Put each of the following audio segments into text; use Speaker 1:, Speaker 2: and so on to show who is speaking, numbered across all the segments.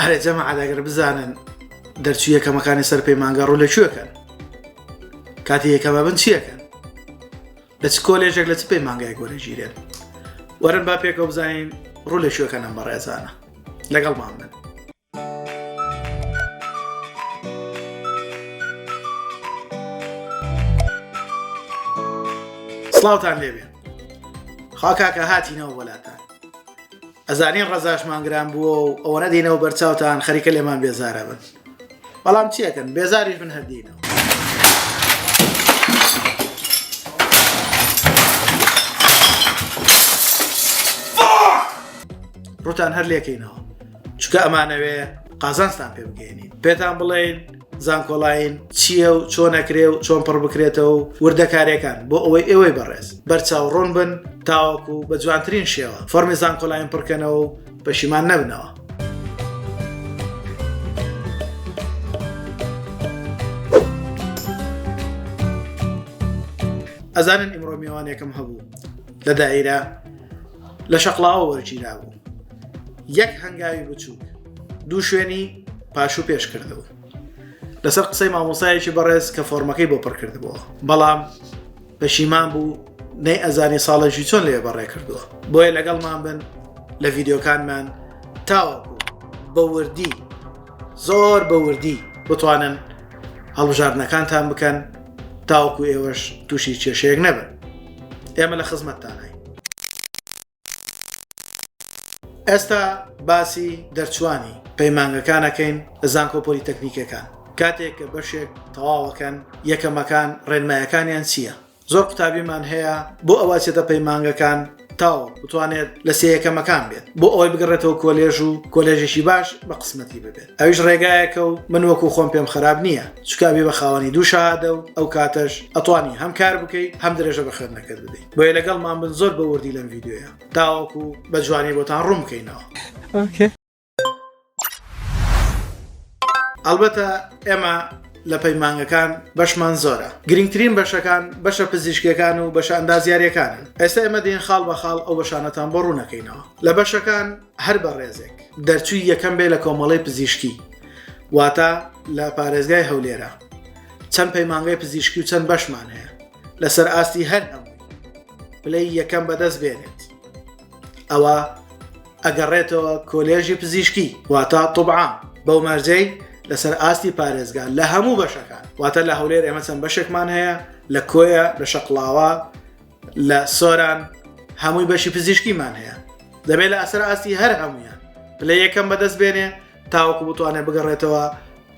Speaker 1: ئەرێ جەماعەت ئەگەر بزانن دەرچوو یەکەمەکانی سەر پەیمانگا ڕوو لە کوێکەن کاتی یەکەمە بن چیەکەن لە چ کۆلێژێک لە چ پەیمانگای گۆرەگیرێن وەرن با پێکەوە بزانین ڕوو لە کوێکەن ئەم بەڕێزانە لەگەڵ مامن سڵاوتان لێبێ خاکاکە هاتینەوە وەلاتان ئەزانین ڕەزاشمان گران بووە و ئەوەنە دینەوە بەرچاوتان خەریکە لێمان بێزارە بن بەڵام چیەکەن بێزاریش من هەردینەوە ڕوتان هەر لێکەینەوە چکە ئەمانەوێ قازانستان پێ بگەێنین پێتان بڵێن زانکۆلاین چییە و چۆنەکرێ و چۆن پڕ بکرێتەوە و وردەکارەکان بۆ ئەوەی ئێوەی بەڕێز بەرچاو ڕۆن بن تاوەکو و بە جوانترین شێوە فەرمی زانکۆلاین پڕکەنەوە و پەشیمان نەبنەوە. ئەزانن ئیمڕۆ میوانێکم هەبوو لە دایرە لە شەقلاوە وەرگیرا بوو یەک هەنگاوی بچووک دوو شوێنی پاش و پێش کردەوە لەسەر قسەی مامۆسایەکی بەڕێز کە فۆرمەکەی بۆ پڕکردبووە بەڵام پەشیمان بوو نەی ئەزانی ساڵەژی چۆن لێ بەڕێ کردووە بۆیە لەگەڵمان بن لە ڤیددیوکانمان تاوەکو بە وردی زۆر بە وردی بتوانن هەڵبژاردنەکانتان بکەن تاوەکو ئێوەش تووشی کێشەیەک نەبن ئێمە لە خزمەتتانای ئێستا باسی دەرچوانی پەیمانگەکانەکەین لە زانکۆ پۆلیتەکنیکەکان کاتێک کە بەشێک تەواوەکەن یەکەمەکان ڕێنمایەکانیان چییە زۆر قوتابیمان هەیە بۆ ئەوە چێتە پەیمانگەکان تاو بتوانێت لە سێ یەکەمەکان بێت بۆ ئەوەی بگەڕێتەوە کۆلێژ و کۆلێژێکی باش بە قسمەتی ببێت ئەویش ڕێگایەکە و من وەکو خۆم پێم خراپ نییە چکاوی بە خاوەنی دوو شادە و ئەو کاتەش ئەتوانی هەم کار بکەیت هەم درێژە بە خوێندنەکەت بدەیت بۆیە لەگەڵمان بن زۆر بە وردی لەم ڤیددیوە تاوەکو بە جوانی بۆتان ڕوون بکەینەوە ئەلبەتە ئێمە لە پەیمانگەکان بەشمان زۆرە گرنگترین بەشەکان بەشە پزیشکەکان و بەشە ئەندازیارەکان ئێستا ئێمە دێن خاڵ بە خاڵ ئەو بەشانەتان بۆ ڕوونەکەینەوە لە بەشەکان هەر بە ڕێزێک دەرچووی یەکەم بێ لە کۆمەڵی پزیشکی واتە لە پارێزگای هەولێرە چەند پەیمانگای پزیشکی و چەند بەشمان هەیە لەسەر ئاستی هەر ئەم پلەی یەکەم بەدەست بێنێت ئەوە ئەگەڕێتەوە کۆلێژی پزیشکی واتا طبعا بەو مەرجەی لەسەر ئاستی پارێزگا لە هەموو بەشەکان واتە لە هەولێر ئێمە چەند بەشێکمان هەیە لە کۆیە لە شەقلاوە لە سۆران هەمووی بەشی پزیشکیمان هەیە دەبێت لە ئەسەر ئاستی هەر هەمویان پلە یەکەم بەدەست بێنێ تاوەکو بتوانێت بگەڕێتەوە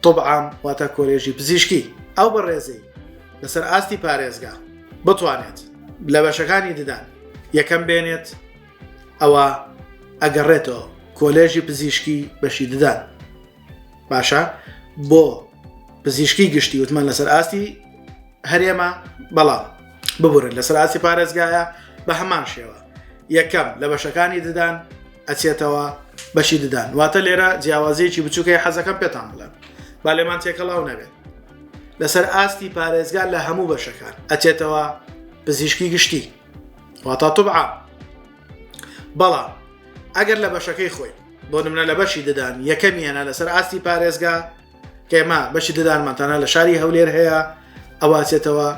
Speaker 1: طب عام واتە کۆلێژی پزیشکی ئەو بەڕێزەی لەسەر ئاستی پارێزگا بتوانێت لە بەشەکانی ددان یەکەم بێنێت ئەوە ئەگەڕێتەوە کۆلێژی پزیشکی بەشی ددان باشە بۆ پزیشکی گشتی وتمان لەسەر ئاستی هەرێمە بەڵام ببورن لەسەر ئاسی پارێزگایە بە هەمان شێوە یەکەم لە بەشەکانی ددان ئەچێتەوە بەشی ددان واتە لێرە جیاوازیەکی بچووکەی حەزەکەم پێتان بڵێن با لێمان تێکەڵاو نەبێت لەسەر ئاستی پارێزگار لە هەموو بەشەکان ئەچێتەوە پزیشکی گشتی واتا طبعا بەڵام ئەگەر لە بەشەکەی خۆی بۆ نمرە لە بەشی ددان یەکەمیانە لەسەر ئاستی پارێزگا ئێمە بەشی ددانمان تەنها لە شاری هەولێر هەیە ئەواچێتەوە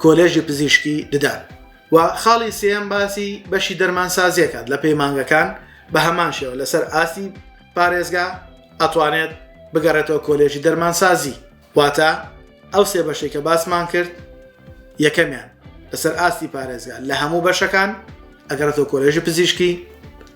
Speaker 1: کۆلێژی پزیشکی ددان و خاڵی سێم باسی بەشی دەرمان سازیەکات لە پەیمانگەکان بە هەمان شێوە لەسەر ئاستی پارێزگا ئەتوانێت بگەڕێتەوە کۆلێژی دەرمان سازی واتە ئەو سێ بەشێک کە باسمان کرد یەکەمیان لەسەر ئاستی پارێزگا لە هەموو بەشەکان ئەگەڕێتەوە کۆلێژی پزیشکی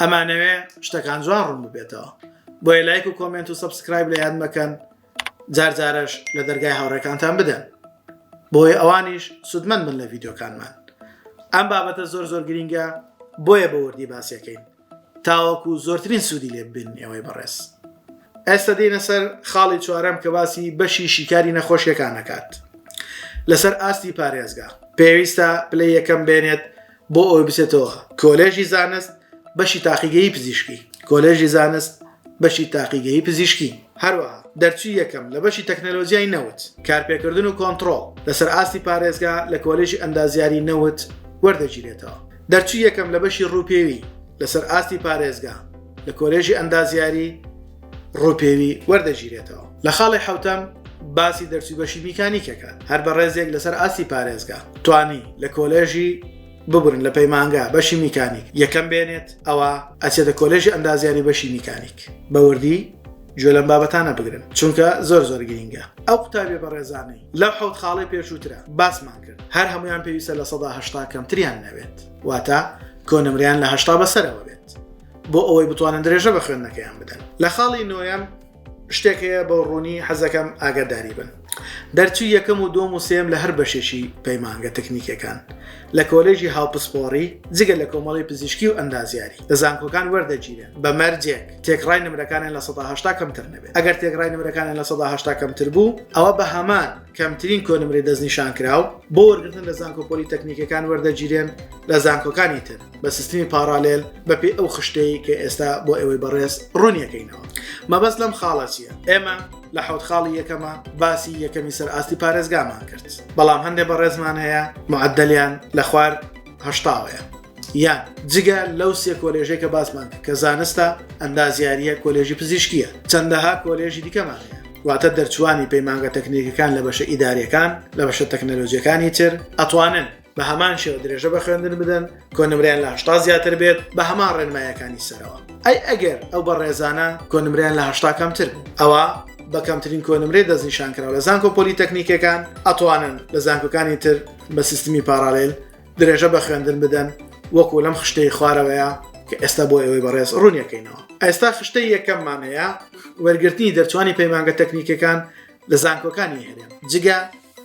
Speaker 1: ئەمانەوێ شتەکان جوان ڕوون ببێتەوە بۆیە لایک و کۆمنت و سبسکرایب لە یاد مەکەن جارجارش لە دەرگای هاوڕێکانتان بدەن بۆیە ئەوانیش سوودمەند بن لە ڤیددیوکانمان ئەم بابەتە زۆر زۆر گرینگە بۆیە بە وردی باسیەکەین تاوەکو زۆرترین سوودی لێ ببین ئێوەی بەڕێز ئێستا دێنە سەر خاڵی چوارەم کە باسی بەشی شیکاری نەخۆشیەکانەکات لەسەر ئاستی پارێزگا پێویستە پلەی یەکەم بێنێت بۆ ئەوەی بچێتەوە کۆلێژی زانست بەشی تاقیگەی پزیشکی کۆلێژی زانست بەشی تاقیگەی پزیشکی هەروەها دەرچوی یەکەم لە بەشی تەکنەلۆژیای نەوت کارپێکردن و کۆنتترۆل لەسەر ئاستی پارێزگا لە کۆلێژی ئەندازیاری نەوت وەردەگیرێتەوە دەرچوی یەکەم لە بەشی ڕووپێوی لەسەر ئاستی پارێزگا لە کۆلێژی ئەندازیاری ڕوپێوی وەردەگیرێتەوە. لە خاڵی حەوتەم باسی دەرچوی بەشی میکانیک ئەکات هەر بە ڕێزێک لەسەر ئاستی پارێزگا توانی لە کۆلێژی ببورن لە پەیمانگا بەشی میکانیک یەکەم بێنێت ئەوە ئەچێتە کۆلێژی ئەندازیاری بەشی میکانیک بە وردی گوێ لەم بابەتانە بگرن چونکە زۆر زۆر گرینگە ئەو قوتابیە بە ڕێزانەی لەو حوت خاڵی پێشووترە باسمان کرد هەر هەمویان پێویستە لە سەدا هشتا کەمتریان نەوێت واتە کۆنمریان لە هشتا بەسەرەوە بێت بۆ ئەوەی بتوانن درێژە بە خوێندنەکەیان بدەن لە خاڵی نۆیەم شتێک هەیە بە ڕوونی حەزەکەم ئاگاداری بن دەرچوو یەکەم و دۆم و سێم لە هەر بەشێکی پەیمانگە تەکنیکەکان لە کۆلێژی هاوپسپۆڕی جگە لە کۆمەڵی پزیشکی و ئەندازیاری لە زانکۆکان وەردەگیرێن بە مەرجێک تێکڕای نمرەکانیان لە 1970 کەمتر نەبێت ئەگەر تێکڕای نمرەکانیان لە 1970 کەمتر بوو ئەوە بە هەمان کەمترین کۆنمری دەستنیشان کراو بۆ وەرگتن لە زانکۆپۆلی تەکنیکەکان وەردەگیرێن لە زانکۆکانی تر بە سیستمی پارالێل بەپی ئەو خشتەی کە ئێستا بۆ ئێوەی بەڕێز ڕوونیەکەینەوە مەبەست لەم خاڵە چییە ئێمە لە حوت خاڵی یەکەمە باسی یەکەمی سەر ئاستی پارێزگامان کرد بەڵام هەندێک بەڕێزمان هەیە معدلیان لە خوار هەشتاوەیە یان جگە لەو سێ کۆلێژێک کە باسمان کە زانستە ئەندازیاریە کۆلێژی پزیشکیە چەندەها کۆلێژی دیکەمان هەیە واتە دەرچوانی پەیمانگە تەکنیکەکان لە بەشە ئیدارەکان لە بەشە تەکنەلۆژیەکانی تر ئەتوانن بە هەمان شێوە درێژە بە خوێندن بدەن کۆنمریان لە هشتا زیاتر بێت بە هەمان ڕێنمایەکانی سەرەوە ئەی ئەگەر ئەو بە ڕێزانە کۆنمریان لە هشتا کەمتر ئەوە بە کەمترین کۆنمرێ دەستنیشان کراوە لە زانکۆ پۆلیتەکنیکەکان ئەتوانن لە زانکۆکانی تر بە سیستمی پارالل درێژە بە خوێندن بدەن وەکو لەم خشتەی خوارەوەیە کە ئێستا بۆ ئەوەی بەڕێز ڕوونیەکەینەوە ئێستا خشتەی یەکەممانەیە وەرگرتنی دەرچوانی پەیمانگە تەکنیکەکان لە زانکۆکانی هەرێم جگە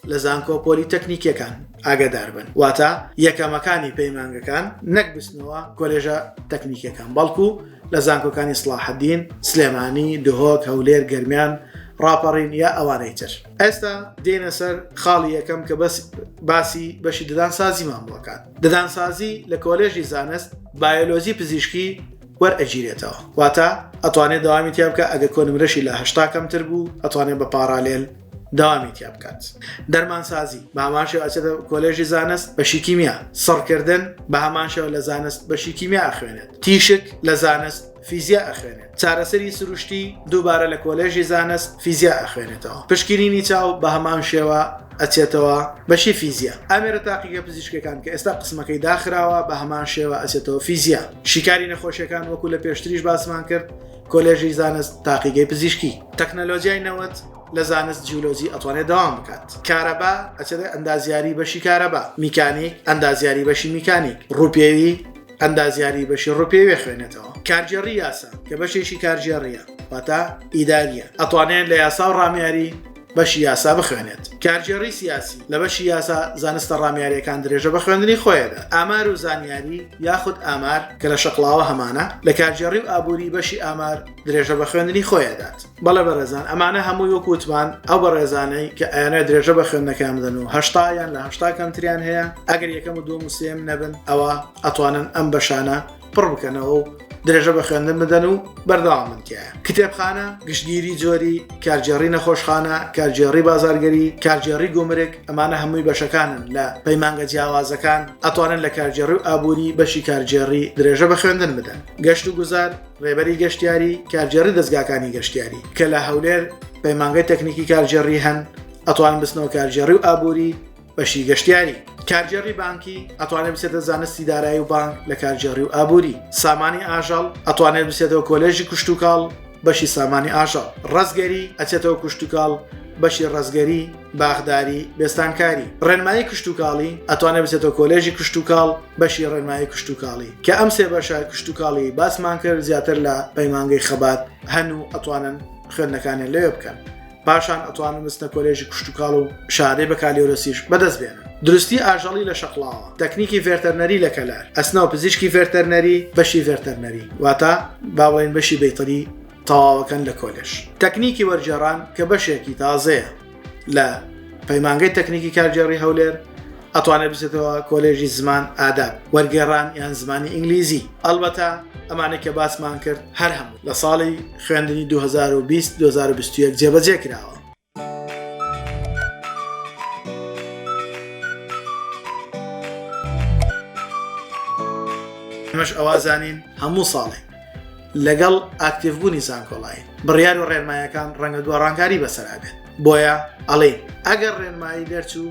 Speaker 1: لە زانکۆ پۆلی تەکنیکیەکان ئاگدار بن واتە یەکەمەکانی پەیمانگەکان نەک بستنەوە کۆلێژە تەکنیکەکان بەڵکو لە زانکۆکانی سلاحدین سلێمانی دهۆک هەولێر گەرمیان ڕاپەڕین یا ئەوانەی تر ئێستا دێنە سەر خاڵی یەکەم کە بەس باسی بەشی ددان سازیمان بۆکات ددان سازی لە کۆلێژی زانست بایۆلۆزی پزیشکی وەرئەگیرێتەوە واتە ئەتوانێت دەوامی تیا بکات ئەگەر کۆنمرەشی لە هەشتا کەمتر بوو ئەتوانێت بە پاڕالێل دەوامی تیا بکات دەرمانسازی بە هەمان شێوە ئەچێتە کۆلێژی زانست بەشی کیمیا سڕکردن بە هەمان شێوە لە زانست بەشی کیمیا ئەخوێنێت تیشک لە زانست فیزیا ئەخوێنێت چارەسەری سروشتی دووبارە لە کۆلێژی زانست فیزیا ئەخوێنێتەوە پشکینینی چاو بە هەمان شێوە ئەچێتەوە بەشی فیزیا ئامێرە تاقیگە پزیشکەکان کە ئێستا قسمەکەی داخراوە بە هەمان شێوە ئەچێتەوە فیزیا شیکاری نەخۆشیەکان وەکو لە پێشتریش باسمان کرد کۆلێژی زانست تاقیگەی پزیشکی تەکنەلۆژیای نەوەت لە زانست جیولۆجی ئەتوانێت داوام بکات کارەبا ئەچێت ئەندازیاری بەشی کارەبا میکانیک ئەندازیاری بەشی میکانیک ڕوپێوی ئەندازیاری بەشی ڕوپێوێ خوێنێتەوە کارگێڕی یاسا کە بەشێکی کارگێڕیە واتا ئیداریە ئەتوانێت لە یاسا و ڕامیاری بەشی یاسا بخوێنێت کارگێڕی سیاسی لە بەشی یاسا زانستە ڕامیاریەکان درێژە بە خوێندنی خۆیدا ئامار و زانیاری یاخود ئامار کە لە شەقلاوە هەمانە لە کارگێڕی و ئابووری بەشی ئامار درێژە بە خوێندنی خۆیدات بەڵێ بەڕێزان ئەمانە هەموو وەک وتمان ئەو بەڕێزانەی کە ئەیانە درێژە بە خوێندنەکان بدەن و هەشتا یان لە هەشتا کەمتریان هەیە ئەگەر یەکەم و دوم سێم نەبن ئەوە ئەتوانن ئەم بەشانە پڕ بکەنەوە و درێژە بە خوێندن بدەن و بەردەوام منتیایە کتێبخانە گشتگیری جۆری کارگێڕی نەخۆشخانە کارگێڕی بازارگەری کارگێڕی گومرک ئەمانە هەمووی بەشەکانن لە پەیمانگە جیاوازەکان ئەتوانن لە کارگێڕی و ئابووری بەشی کارگێڕی درێژە بە خوێندن بدەن گەشت و گوزار ڕێبەری گەشتیاری کارگێڕی دەستگاکانی گەشتیاری کە لە هەولێر پەیمانگەی تەکنیکی کارگێڕی هەن ئەتوان بستنەوە کارگێڕی و ئابووری بەشی گەشتیاری کارگێڕی بانکی ئەتوانێت بسێتە زانستی دارایی و بانک لە کارگێڕی و ئابووری سامانی ئاژەڵ ئەتوانێت بسێتەوە کۆلێژی کوشتتوکاڵ بەشی سامانی ئاژەڵ ڕزگەری ئەچێتەوە کوشتتوکاڵ بەشی ڕزگەری باخداری بێستانکاری ڕێنمایی کشتتوکاڵی ئەتوانێت بسێتەوە کۆلێژی کشتتوکاڵ بەشی ڕێنمایی کشتتوکاڵی کە ئەم سێ بەشە کشتتوکاڵی باسمان کرد زیاتر لە پەیمانگەی خەبات هەن و ئەتوانن خوێندەکانیان لێ بکەن پاشان ئەتوانن بچنە کۆلێژی کشتوکاڵ و شادەی بەکالیۆرۆسیش بەدەست بێنن دروستی ئاژەڵی لە شەقڵاوە تەکنیکی ڤێرتەرنەری لە کەلار ئەسنا و پزیشکی ڤێرتەرنەری بەشی ڤێرتەرنەری واتە باڵێن بەشی بەیتەری تەواوەکەن لە کۆلێش تەکنیکی وەرجێڕان کە بەشێکی تازەیە لە پەیمانگەی تەکنیکی کارگێڕی هەولێر ئەتوانێت بچێتەوە کۆلێژی زمان ئاداب وەرگێڕان یان زمانی ئینگلیزی ئەلبەتە ئەمانە کە باسمان کرد هەر هەم لە ساڵی خوێندنی 2020 2021 جێبەجێ کراوە ئەمەش ئەوا زانین هەموو ساڵێک لەگەڵ ئاکتیڤبوونی زانکۆڵای بڕیار و ڕێنمایەکان ڕەنگە دووە ڕانکاری بەسەرابێت بۆیە ئەڵێ ئەگەر ڕێنمایی دەرچوو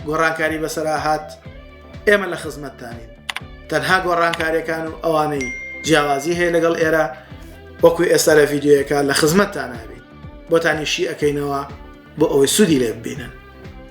Speaker 1: گۆڕانکاری بەسەرا هات ئێمە لە خزمەتتانین تەنها گۆڕانکاریەکان و ئەوانەی جیاوازی هەیە لەگەڵ ئێرە وەکو ئێستا لە ڤیددیوەکە لە خزمەتتان نابین بۆتانی شی ئەەکەینەوە بۆ ئەوەی سوودی لێ ببینن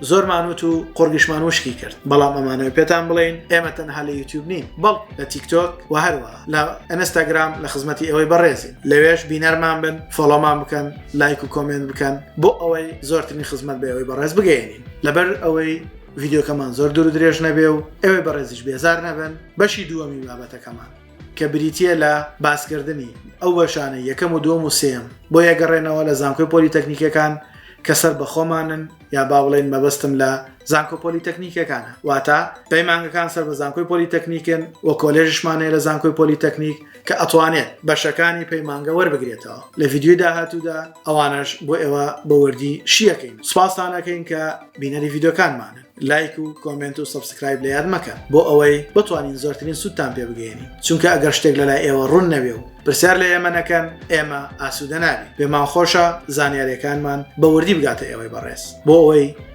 Speaker 1: زۆرمانوت و قۆرگشمان وشکی کرد بەڵام ئەمانەوە پێتان بڵین ئێمە تەنها لە یوتیوب نین بەڵ لە تیکتۆک و هەروە لە ئەنستاگرام لە خزمەتی ئەوەی بەڕێزین لەوێش بینەرمان بن فۆڵۆمان بکەن لایک و کۆمنت بکەن بۆ ئەوەی زۆرترین خزمەت بەەوەی بەڕێز بگەێنین لەبەر ئەوەی ڤیددیوکەمان زۆر دوور درێژ نەبێ و ئەوێ بەڕێزیش بێزار نەبن بەشی دووەمی بابەتەکەمان کە بریتە لە باسکردنی ئەو بەشانە یەکەم و دوم و سێم بۆ یەگەڕێنەوە لە زانکۆی پۆلی تەکنیکەکان کە سەر بەخۆمانن یا با بڵێن مەبەستم لە زانکۆ پۆلی تەکنیکەکانە واتە پەیمانگەکان سەر بە زانکۆی پۆلی تەکنیکن و کۆلێژشمانەیە لە زانکۆی پۆلی تەکنیک کە ئەتوانێت بەشەکانی پەیمانگە وەربگرێتەوە لە ڤیددیوی داهاتوودا ئەوانش بۆ ئێوە بە وردی شیەکەین سپاسانەکەین کە بینەری ڤیددیوکانمانە لایک و کۆمنت و سبسکرایب لە یاد مەکە بۆ ئەوەی بتوانین زۆرترین سوودتان پێ بگەێنی چونکە ئەگەر شتێک لەلای ئێوە ڕوون نەوێ و پرسیار لە ئێمە نەکەن ئێمە ئاسوودەناوی پێمان خۆشە زانیارەکانمان بە وردی بگاتە ئێوەی بەڕێز بۆ ئەوەی